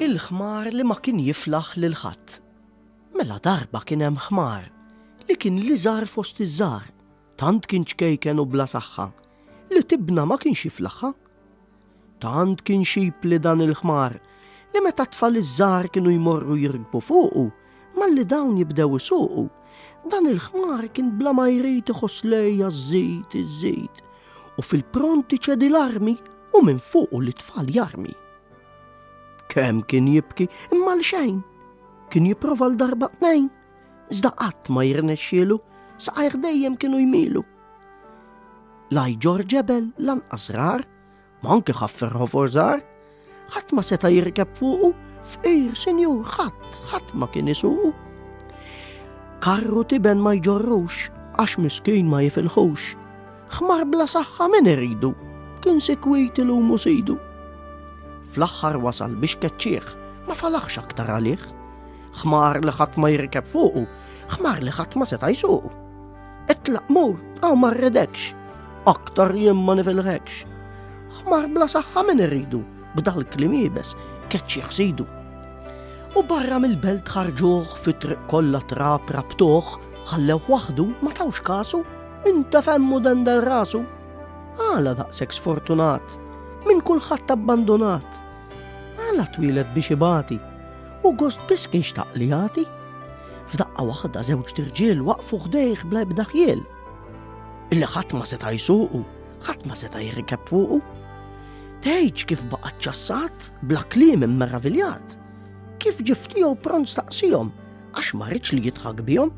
Il-ħmar li ma kien jiflaħ lil ħadd. Mela darba kien hemm ħmar li kien li żar fost iż-żar, tant kien ċkejken u bla saħħa li tibna ma kienx jiflaħħa. Tant kien xib li dan il-ħmar li meta tfal iż-żar kienu jmorru jirkbu fuqu Malli dawn jibdew isuqu, dan il-ħmar kien bla ma jrid iħoss lejja żid, iżid, u fil-pronti ċedi l-armi u minn fuqu li tfal jarmi. Kemm kien jibki imma l-xejn, kien jiprofa l-darba tnejn, iżda qatt ma jirnexxielu, saqajr dejjem kienu jmilu. Laj ġor ġebel lanqas rar, Ma anke ħaffer ħofor żgħar, ħadd ma seta' jirkeb fuqu, fqir sinjur ħadd, ħadd ma kien isuqu. Karru tiben ma jġorrux, għax miskin ma jifilħux. Ħmar bla saħħa min iridu, kien sikwit il umu sidu. Fl-aħħar wasal biex keċċieħ, ma falaħx aktar għalih. Ħmar li ħadd ma jirkeb fuqu, ħmar li ħadd ma seta' jsuqu. Itlaq mur, għaw ma rridekx, aktar jien ma nifilħekx. Ħmar bla saħħa min irridu, b'dal klim jibes, keċċ jħsidu. U barra mill-belt ħarġuħ fi triq kollha trab rabtuħ, ħallew waħdu ma tawx kasu, inta femmu dendel rasu. Għala daqsek sfortunat, minn kulħadd abbandonat. Għala twieled biex ibati, u gost biss kien xtaq li jagħti. F'daqqa waħda żewġ tirġiel waqfu ħdejh bla ebda ħjiel. Illi ħadd ma seta' jsuqu, ħadd ma seta' jirkeb fuqu. Tgħidx kif baqa' ċassat bla kliem immeraviljat. Kif ġiftihom pront staqsihom għax ma rridx li jitħak bihom.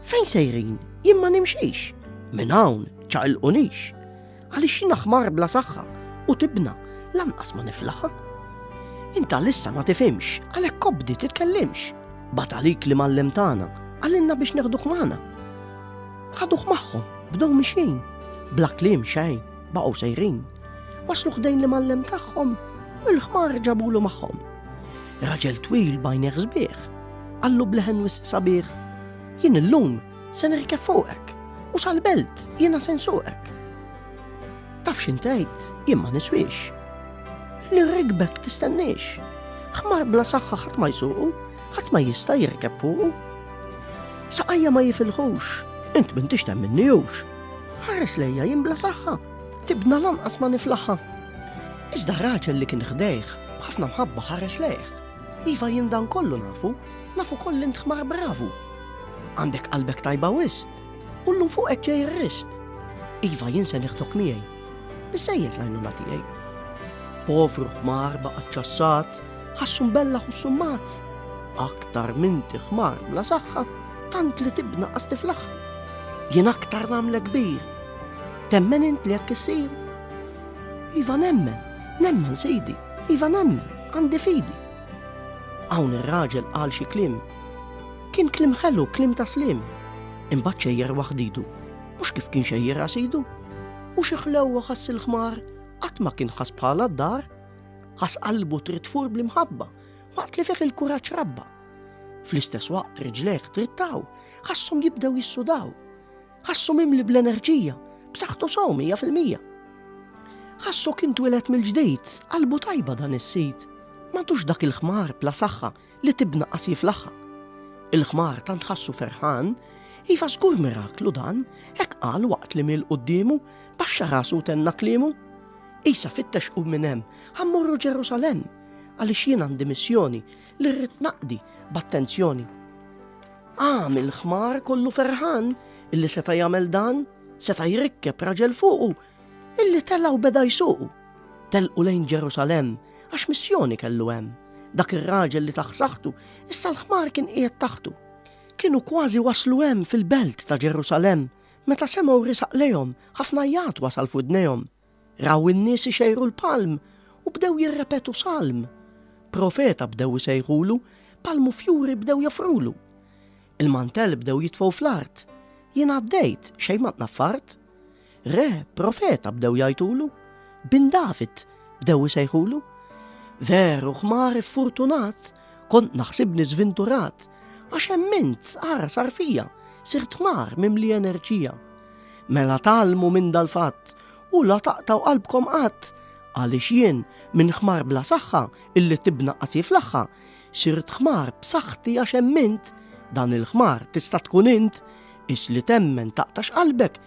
Fejn sejrin, jien ma nimxix, minn hawn ċaqilqunix. Għaliex jiena ħmar bla saħħa u tibna lanqas ma niflaħa. Inta lissa ma tifimx, għalhekk kobdi titkellimx. Bat għalik li mallem tagħna, għalinna biex neħduh magħna. Ħaduh magħhom, bdew mixin, bla kliem xejn, baqgħu sejrin. Waslu ħdejn li mallem tagħhom, u l-ħmar ġabulu magħhom. Raġel twil bajn sbieħ, għallu bleħen wis sabiħ. Jien illum Se nirkeb fuqek u sal-belt jiena se nsuqek. Taf xintejt, jien ma niswix. Li rikbek tistennix. Ħmar bla saħħa ħadd ma jsuqu, ħadd ma jista' jirkeb fuqu. Saqajja ma jifilħux, int minn tixtem minnijux. Ħares lejja jien bla saħħa, tibna lanqas ma niflaħħa. Iżda raġel li kien ħdejh, bħafna mħabba ħares lejh. Iva jindan kollu nafu, nafu kollint ħmar bravu. Għandek qalbek tajba wis, u l-lum fuq hekk ġej ir-ris. Iva jinsa neħdok miegħi. Bissejjed l-għajnuna tiegħi. Povru ħmar baqa' ċassat, ħassu bella u summat. Aktar minn ħmar bla saħħa, tant li tibna qasti fl-aħħar. Jien aktar nagħmlek kbir. Temmen int li jekk issir. Iva nemmen, nemmen sidi, iva nemmen, għandi fidi. Hawn ir-raġel qal xi klim Kien kliem ħelu, kliem ta' sliem. Imbagħad xejjer waħdidu. Mhux kif kien xejjerha sidu. U xi ħlewwa ħass il-ħmar, qatt ma kien ħass bħala d-dar. Ħass qalbu trid tfur bl-imħabba, waqt li fih il-kuraġġ rabba. Fl-istess waqt riġlejh trittaw, ħassom jibdew jissudaw. Ħassom imli bl-enerġija, b'saħħtu sew mija fil-mija. Ħassu kien twilet mill-ġdid, qalbu tajba dan is-sid. M'għadux dak il-ħmar bla saħħa li tibna qas jiflaħħa. Il-ħmar tant ħassu ferħan, iva żgur miraklu dan, hekk qal waqt li mil quddiemu baxxa rasu tenna kliemu. Isa fittex u minn hemm ħammorru Ġerusalem għaliex jien għandi missjoni li rrid naqdi b'attenzjoni. Għam il-ħmar kollu ferħan illi seta' jagħmel dan, seta' jrikkeb raġel fuqu Illi telgħu beda jsuqu, telqu lejn Ġerusalemm għax missjoni kellu hemm. Dak ir-raġel li taħsaħtu, issa l-ħmar kien qiegħed taħtu. Kienu kważi waslu hemm fil-belt ta' Ġerusalemm meta semgħu risaq lejhom ħafna jgħat wasal f'widnejhom. Raw in-nies ixejru l-palm u bdew jirrepetu salm. Profeta bdew isejħulu, palmu fjuri bdew jafrulu. Il-mantel bdew jitfgħu fl-art. Jien għaddejt xejn ma tnaffart. Re, profeta bdew jgħajtulu, bin David bdew isejħulu. Veru ħmar iffurtunat, kont naħsibni żvinturat, għax emmint ara sar fija, sirt ħmar mimli enerġija. Mela talmu minn dal-fatt u la taqtaw qalbkom qatt għaliex jien minn ħmar bla saħħa illi tibna qasi fl-aħħa sirt ħmar b'saħħti għax emmint dan il-ħmar tista' tkun int is li temmen taqtax qalbek